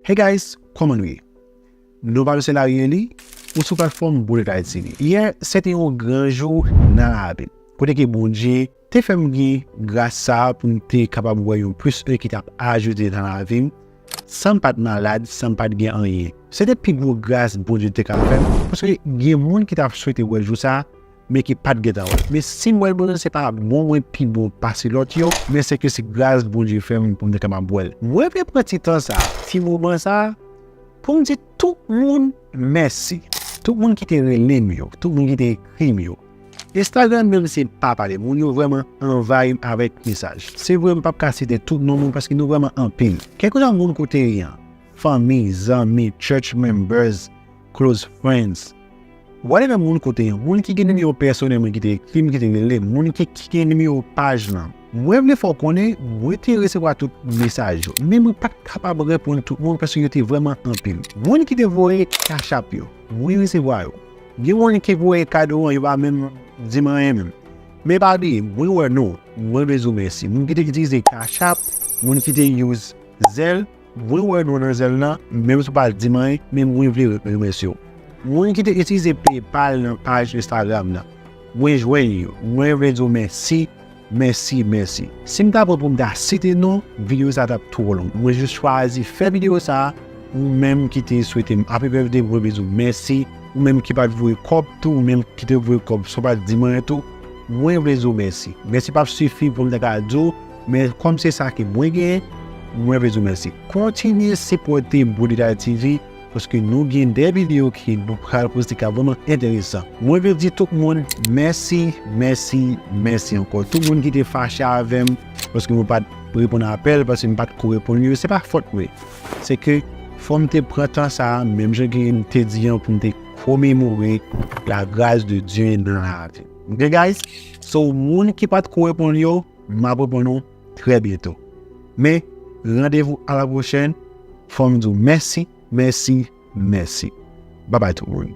Hey guys kòman nou ye nou pa misye Larry Eli ou sou platfòm Bonet Haïti li yè se te yon gran jou nan lavi m kote ke Bondye te fè m gen gras sa pou m te kapab wè yon plis 1 ki tap ajoute nan lavi m san m pat malad san m pat gen anyen se te pi gwo gras Bondye te ka fè m paske gen moun ki tap swete wè jou sa. men ki pat gentan wèl men sim wèl bon se pa bon mwen pi bon pase lòt yo men se ke se gras Bondye fèm pou mwen kapab wèl mwen vle pran ti tan sa ti moman sa poum di tout moun mèsi tout moun ki te relem yo tout moun ki te ekrim yo Instagram menm se pa pale moun yo vrèman anvayim avèk mesaj se vre m pap ka site tout non moun paske nou vrèman anpil kèlkeswa moun kote yan fanmi zanmi church members. Close friends Ou ale nan moun kote yon moun ki gen nimewo pèsonèl mwen ki te ekri m ki te rele m, moun ki gen nimewo paj lan. Mwen vle fè w konnen mwen te resevwa tout mesaj yo, men mwen pa t kapab reponn tout moun paske yo te vrèman anpil. Moun ki te voye cash app yo, mwen resevwa yo. Gen moun ki voye kado an yo pa menm di m anyen menm. Men pa bliye mwen wè nou, mwen vle di w mèsi. Moun ki te itilize cash app, moun ki te use Zelle. Mwen wè non nan zèl la, menm si w pa di m anyen, men mwen vle remèsye w. Moun ki te itilize PayPal nan paj Instagram nan, mwen jwenn yo. Mwen vle di w mèsi, mèsi, mèsi. Si m ta pran pou m ta site non, videyo sa a t ap twò long. Mwen jis chwazi fè videyo sa a. Ou menm ki te swete m Happy Birthday, mwen vle di w mèsi. Ou menm ki pa t voye kòb tou, ou menm ki te voye kòb san w pa t di m anyen tou, mwen vle di w mèsi. Mèsi p ap sifi pou m ta ka di w. Men kòm se sa ke mwen genyen, mwen vle di w mèsi. Kontinye sipòte Bon Detay TV paske nou gen 2 videyo ke nou pral poste kap vrèman enteresan. Mwen vle di tout moun mèsi, mèsi, mèsi ankò. Tout moun ki te fache avè m paske mwen pat reponn apèl, paske m pat ko reponn yo, se pa fòt mwen. Se ke fò m te pran tan sa a, menm jan ke m te di an, pou m te komemore la gras de Dye nan lavi m. Ok guys? So moun ki pat ko reponn yo. M ap reponn ou trè byento. Men, randevou a la pwochèn. Fò m di w mèsi, mèsi, mèsi. Babay tout moun.